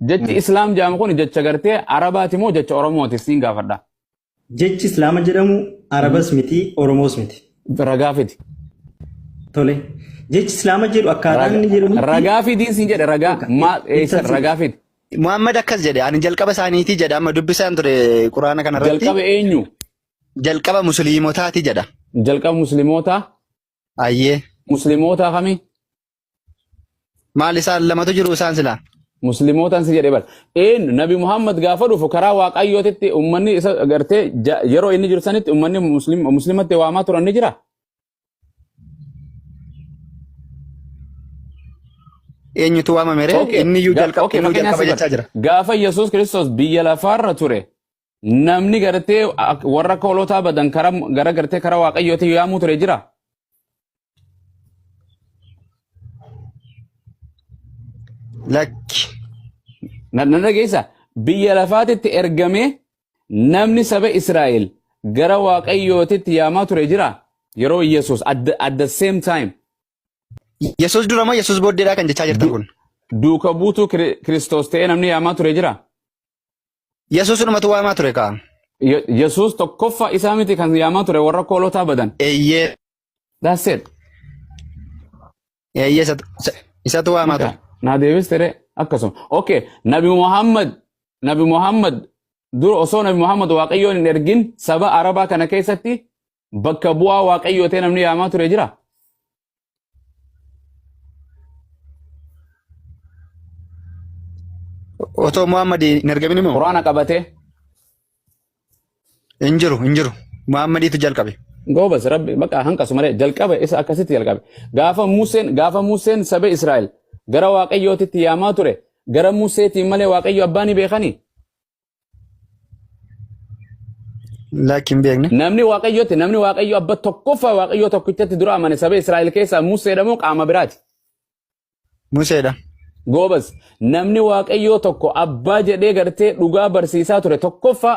Jechi Mm. Islaam jedhamu kun jecha gartee Arabaati moo jecha Oromooti siin gaafadha. Jechi Islaama jedhamu Arabas miti, Oromoos miti. Ragaa fidi. Tole. Jechi Islaama jedhu akkaataa inni jedhamu. Ragaa fidii siin jedhe ragaa. Maal eessa ragaa fidi. Muhammad akkas jedhe ani jalqaba isaaniitii jedha amma dubbisaan ture quraana kana irratti Jalqaba eenyu? jalqaba musliimotaati jedha. Jalqaba muslimootaa? Ayyee Muslimootaa kami? Maal isaan lamatu jiru isaan silaa? muslimootaan si jedhe bar een nabi muhammad gaafa dhufu karaa waaqayyootitti ummanni isa gartee ja- yeroo inni jiru sanitti ummanni muslim- muslimatti waamaa turan ni jira Eenyutu waamame ree? Okay. Inni iyyuu Ga- jalqaba okay, inni iyyuu fakkeenyaaf jalqaba si jechaa jira. bar- gaafa yesus kiristoos biyya lafaarra ture Namni gartee ak- warra akka hoolotaa badan karaa gara gartee karaa waaqayyootiin yaamuu ture jira. Lakki. Na na dhageessa biyya lafaatitti ergamee namni saba Israa'el gara waaqayyootitti yaamaa ture jira. Yeroo Yesuus at the, at the same time Yesuus dura moo Yesuus booddeedhaa kan jechaa jirtan du- kun? duuka buutuu Kiri- Kiristoos ta'ee namni yaamaa ture jira. Yesuus dhumatu waamaa ture kaa. Ye- Yesuus tokkoffaa isaa miti kan yaamaa ture warra koolotaa badan. Eeyyee. That's it. Eeyyee isatu- isa- isatu waamaa ture. Naa deebistere akkasuma. Okay, Nabi Muhammad, Nabi Muhammad dur osoo Nabi Muhammad Waaqayyoon hin ergin saba Arabaa kana keessatti bakka bu'aa waaqayyoo ta'e namni yaamaa ture jira. Otoo Muhammad hin argamin immoo Quraana qabatee hin jiru hin jiru. Muhammadiitu jalqabe. goobas rabbi baqa hanqasu malee jalqabe isa akkasitti jalqabe. Gaafa Museen gaafa Museen saba Israa'el gara waaqayyootitti yaamaa ture gara Museetiin malee waaqayyo abbaa ni beekanii? Lakki hin beekne. Namni waaqayyotti namni waaqayyo abba tokkoffaa waaqayyoo tokkichatti dura amane saba Israa'el keessaa Museedha moo qaama biraati? Museedha. Goobas namni waaqayyoo tokko abbaa jedhee gartee dhugaa barsiisaa ture tokkoffaa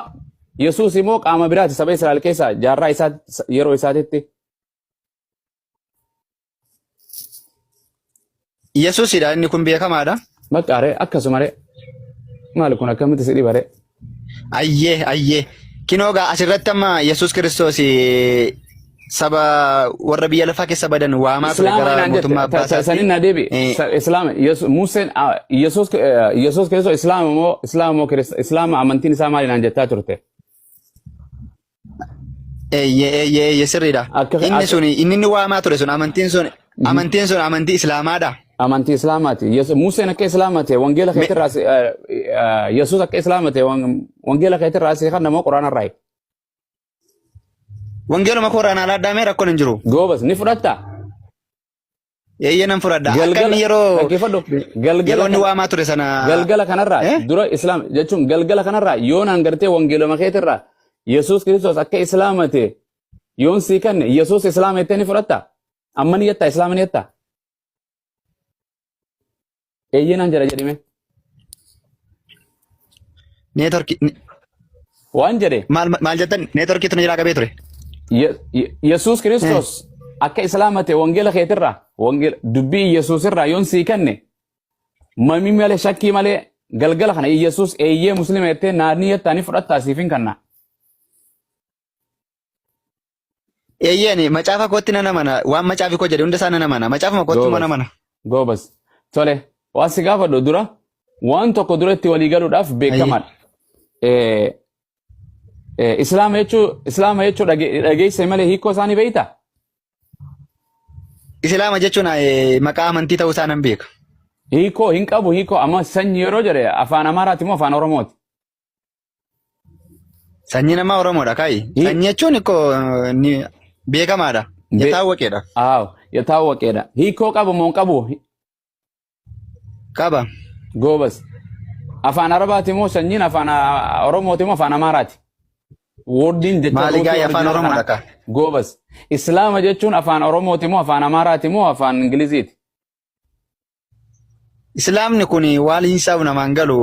Yesuus immoo qaama biraati saba Israa'el keessaa jaarraa isaa yeroo isaatitti. Yesuusidha inni kun beekamaadha. Baqqaaree akkasumaree maal kun akkamitti si dhibaree? Ayyee ayyee kinoo gaa asirratti amma Yesuus Kiristoos eh, saba warra biyya lafaa keessa badan waamaa ture Islaama gara inaan mootummaa jette abbaa ta- ta- sanin na deebi Eh. Sa- islaama Yesu- Museen ah, Yesuus eh, Yesuus Kiristoos islaama moo islaama moo Kirist- islaama amantiin isaa maal inaan jettaa turte? Eeyyee eeyyee eeyyee sirriidha. Akka- Inni akka- sun inni inni waamaa ture sun amantiin sun amantiin sun amantii islaamaadha. Amantii Islaamaati. Yesu- Museen akka Islaama ta'e wangeela Me- keetirraa si- eh, eh, Yesuus akka Islaama ta'e wan- wangeela keetirraa si kan nama quraana irraa eegu. Wangeeluma kooraan alaa addaamee rakkoon hin jiru. Goobas ni fudhatta. Eeyyee nan fudhadha. Akka inni Galgala yeroo dhaggeeffadhu. Galgala yeroo inni kana waamaa ture sana galgala kanarraa eh? dura islaam jechuun galgala kanarraa yoon hangartee wangeeloma keetirraa Yesuus Kiristoos akka islaamate yoon sii kanne Yesuus islaama jettee ni fudhatta. Amma ni jettaa islaama ni jettaa. Eeyyee naan jedha jedhime. Neetworkii Waan jedhe maal maal jettan neetworkii tun jiraa qabee ture. Ye- Ye- Yesuus Eh, Kiristoos akka islaamate wangeela keetirraa wangeela dubbii Yesuus irraa yoon sii kenne mamii malee shakkii malee galgala kana Yesuus eeyyee musliima jettee naannii jettaanii fudhattaa siif hin kanna. Eeyyeen macaafa kootti nan amana. Waan macaafi koo jedhe hunda isaa nan amana. Macaafuma kootti immoo nan Goobas. amana. Goobas. Tole. Waan si gaafadhu dura waan tokko dura itti walii galuudhaaf Ayyee. beekamaadha. Eh, eh, Islaama jechuu Islaama jechuu dhage- dhageessee malee hiikoo isaanii beektaa? Islaama jechuun eh, maqaa amantii ta'uu isaa nan beeka. Hiikoo hin qabu hiikoo amma sanyi yeroo jedhe afaan Amaaraati moo afaan Oromooti? Sanyii namaa Oromoodha kaayi. Ni- Sanyii jechuun ikko ni beekamaadha. Be- Yataa waqeedha. Aaw, yataa waqeedha. Hiikoo qabu moo hin qabu? Qaba. Goobas. Afaan Arabaati moo sanyiin afaan ah, Oromooti moo afaan Amaaraati? Woordiin jecha Maali ruutii gaa'e afaan original Oromoodha kanaa. kaa? Goobas. Islaama jechuun afaan Oromooti moo afaan Amaaraati moo afaan Ingiliziiti? Islaamni kun waaliin isaa namaan galu.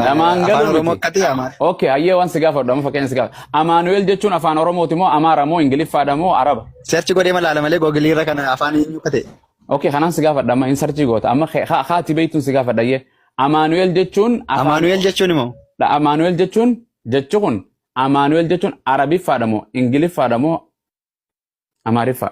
Namaan galu Afaan Oromoo miti. akkati Amaara. Okay, hayyee waan si gaafadhu amma fakkeenya si gaafadhu. Amaanu'eel jechuun afaan Oromooti moo Amaara moo Ingiliffaadha moo Araba? Seerchi godhee malaala malee googilii irra kana afaan eenyu akka ta'e. Okay, kanaan si gaafadha amma insarchii goota. Amma kee- haa- haati beektuun si gaafadha hayyee. Amaanu'eel jechuun afaan Amaanu'eel jechuun immoo. Dha, Amaanu'eel jechuun jechi kun Amaanu'eel jechuun Arabiffaadha moo Ingiliffaadha moo Amaariffaa?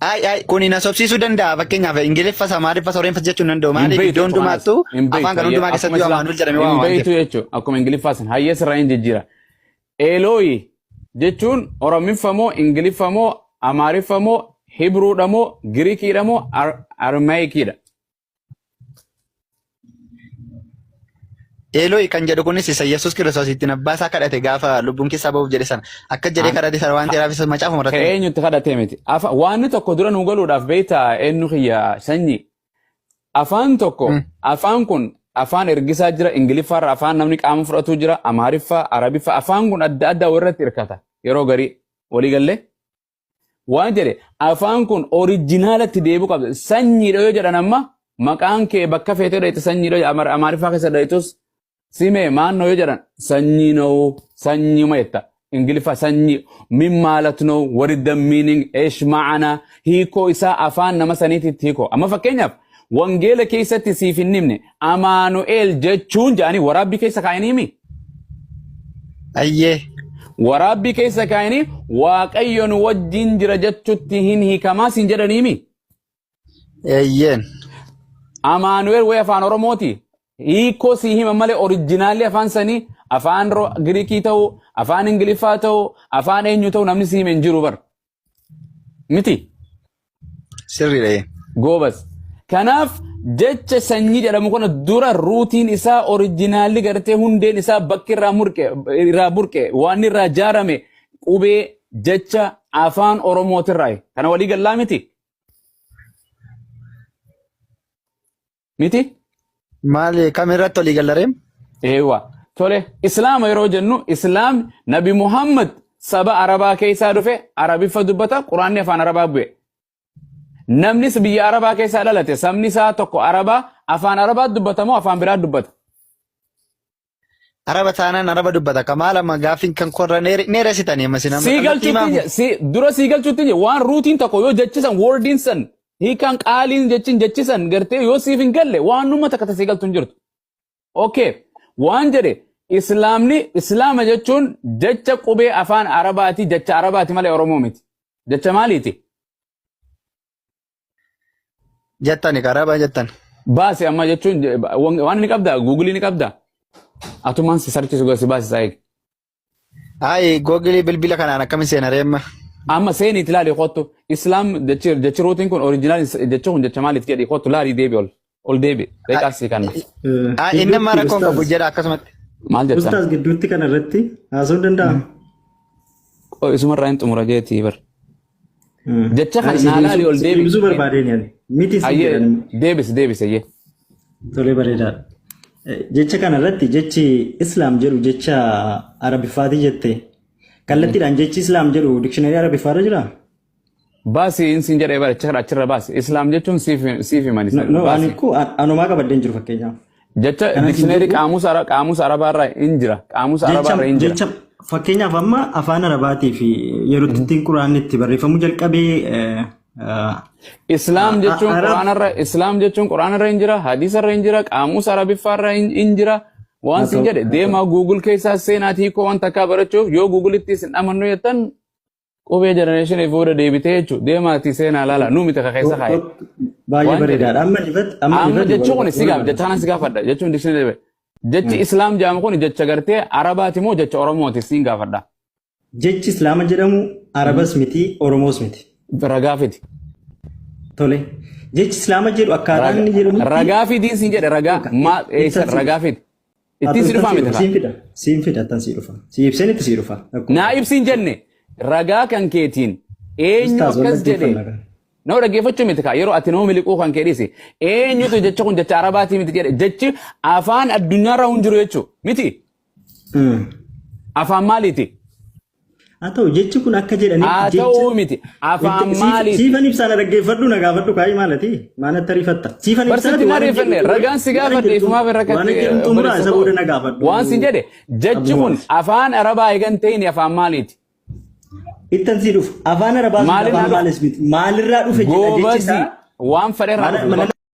Ay, ay, kun hin haasofsiisuu danda'a. Fakkeenyaaf Ingiliffa, Samaariffa, Sooreenfa jechuun hin danda'u. Maaliif iddoo hundumaattuu afaan kan hundumaa keessatti Amaanuel jedhame waan waan ta'eef. jechuudha. Akkuma Ingiliffaa san hayyee sirraa hin jijjiira. Eelooyi jechuun Oromiffa moo Ingiliffa moo Amaariffa moo Hibruudha moo Girikiidha moo Armaayikiidha. Eelooyi kan jedhu kunis isa Yesuus Kiristoos ittiin abbaa isaa kadhate gaafa lubbuun keessaa ba'uuf jedhe sana akka jedhee An- kadhate sana waan ta'eef isa macaafuma ka irratti eenyutti kadhatee miti. Afa- Waanni tokko dura nu galuudhaaf beektaa eenyu kiyya sanyi. Afaan tokko Mm. afaan kun afaan ergisaa jira ingiliffaarra afaan namni qaama fudhatu jira amaariffaa arabiffaa afaan kun adda addaa walirratti hirkata yeroo garii walii gallee Waan jedhe afaan kun orijinaalatti deebi'uu qabda. Sanyiidha yoo jedhan amma maqaan kee bakka feetee dheeyte sanyiidha yoo jedhan amaariffaa keessa dheeytus simee maannoo yoo jedhan sanyii na'uu sanyuma jetta. Ingiliffa sanyii min maalat na'uu what is the meaning eesh ma'ana hiikoo isaa afaan nama saniititti hiikoo. Amma fakkeenyaaf wangeela keessatti siif hin himne Amaanu'eel jechuun jedhanii waraabbii keessa kaa'anii mi? Ayyee. Waraabbii keessa kaa'anii waaqayyo nu wajjin jira jechuutti hin hiikamaa siin jedhanii mi? Eeyyeen. Amaanu'eel wayii afaan Oromooti. Hiikoo sii hima malee orijinaalli afaan sanii afaan Ro- Giriikii ta'uu, afaan Ingiliffaa ta'uu, afaan eenyu ta'uu namni sii hime hin jiru bar. miti Sirriidha. ee. goobas kanaaf jecha sanyii jedhamu kana dura ruutiin isaa orijinaalli gartee hundeen isaa bakki irraa murqe irraa burqe waan irraa jaarame qubee jecha afaan oromootirraa kana walii gallaa miti Miti? Maal kam irratti olii gallareem? Eewwa. Tole Islaama yeroo jennu Islaam Nabi Muhammad saba Arabaa keessaa dhufe Arabiffa dubbata Quraanni afaan Arabaa bu'e. Namnis biyya Arabaa keessaa dhalate sabni isaa tokko Arabaa afaan Arabaa dubbata moo afaan biraa dubbata? Araba taanaan araba dubbata ka maal amma gaaffiin kan korra neere- neeresitanii amma isin amma Sii kallattii galchuutti maafu. je- sii- dura sii galchuutti je waan ruutiin tokko yoo jechisan woordiin san hiikaan qaaliin jechin jechisan gartee yoo siif hin galle waan numa takka tasii galtu hin jirtu. Okay. Waan jedhe islaamni islaama jechuun jecha qubee afaan arabaati jecha arabaati malee oromoo miti. Jecha maaliiti? Jettani karaa baa jettan. Baasi amma jechuun je- ba- wan- waan ni qabda guugilii ni qabda. Atumaan si sarchisu gara si baasisaa eegi. Ayi googilii bilbila kanaan akkamiin seena reemma. Amma seeni itti laali kottu islaam jechi jechi ruutiin kun oriijinaal jechi kun jecha maaliif jedhi kottu laali deebi ol. Ol deebi. Beekaa si kanna. Ah, Inni amma rakkoon qabu jedha akkasumatti. Maal jettan? Ustaaz gidduutti kana irratti haasa'uu danda'ama. Qoy isumarraa hin xumura jeetii bar. Jecha kana naa laali ol deebi. Ibsuu barbaadeen yaani. Miti isin Ayyee jedhan. deebis deebis ayyee. Tolee bareedaadha. Eh, Jecha kana irratti jechi Islaam jedhu jecha Arabiffaatii jette. Kallattiidhaan jechi Islaam jedhu dikshinaarii Arabiffaa irra jiraa? Baasi in sin jedhee bara achirra achirra baasi. Islaam jechuun siif siif himani No, sana no, ani baasi. koo an- anumaa qabadde hin jiru fakkeenyaaf. Jecha Kanan sin dikshineerii jedhu qaamusa ara- qaamusa arabaa irraa hin jira. Qaamusa arabaa jecha irra hin jira. jecha fakkeenyaaf amma afaan arabaatii fi yeroo itti ittiin quraanni itti barreeffamuu jalqabee eh, ah, Islaam ah, jechuun arab quraana irra Islaam jechuun quraana irra hin jira. Hadiisa irra hin jira. Qaamusa arabiffaa irra hin hin jira. Waan haa sin ta'u jedhe haa ta'u. deemaa Google keessaa seenaatii hiikoo waan takkaa barachuuf yoo Google itti isin dhamannu jettan Qubee jenereeshinii fuudha deebitee jechuudha. Deemaatii seenaa laala. Nu miti kakeessa kaa'e. Baay'ee Waan bareedaadha. Amma ifatti amma Amma ifatti jechuun kun si gaaf jecha kanan si gaafadha jechuun dikshinii deebi'e. Jechi islaam jedhamu kun jecha gartee arabaati moo jecha oromooti siin gaafadha. jechi islaama jedhamu arabas miti oromoos miti. Ragaa fidi. Tole. Jechi islaama jedhu akkaataa inni jedhamutti Ragaa fidii siin jedhe ragaa maa eessa ragaa fidi. Ittiin si dhufaa miti Siin kaa. fida. Siin fida tan sii dhufa. Sii ibseen itti sii dhufa. Akkuma Naa kana. ibsiin jenne ragaa kan keetiin eenyu Ustaaz wal akkas jedhe. dhaggeeffannaa kana. Nama dhaggeeffachuu miti kaa yeroo ati nama miliquu kan kee dhiisi. Eenyutu jecha kun jecha arabaatii miti jedhe jechi afaan addunyaarra hin jiru jechuu miti. Mm. Afaan maaliiti? Haa ta'u jechi kun akka jedhanitti Haa jecha ta'uu miti. Afaan Siif- maaliiti? siifan ibsaadha dhaggeeffadhu na gaafadhu kaayii maalati maalatti ariifatta siifan Barsiitti ibsaati na waan hin riifanne jedhu- ragaan si waan hin gaafadhe jedhu- ifumaaf irra waan hin jedhu xumuraa isa booda na gaafadhu Waan si jedhe jechi kun Abdumaaf. afaan arabaa eegan ta'in afaan maaliiti? ittan sii dhufu afaan arabaa sun Maalirraa afaan dhufe? maalis miti maalirraa dhufe jedha jechi Goobazii isaa waan fedherraa Maala- dhufu. maala-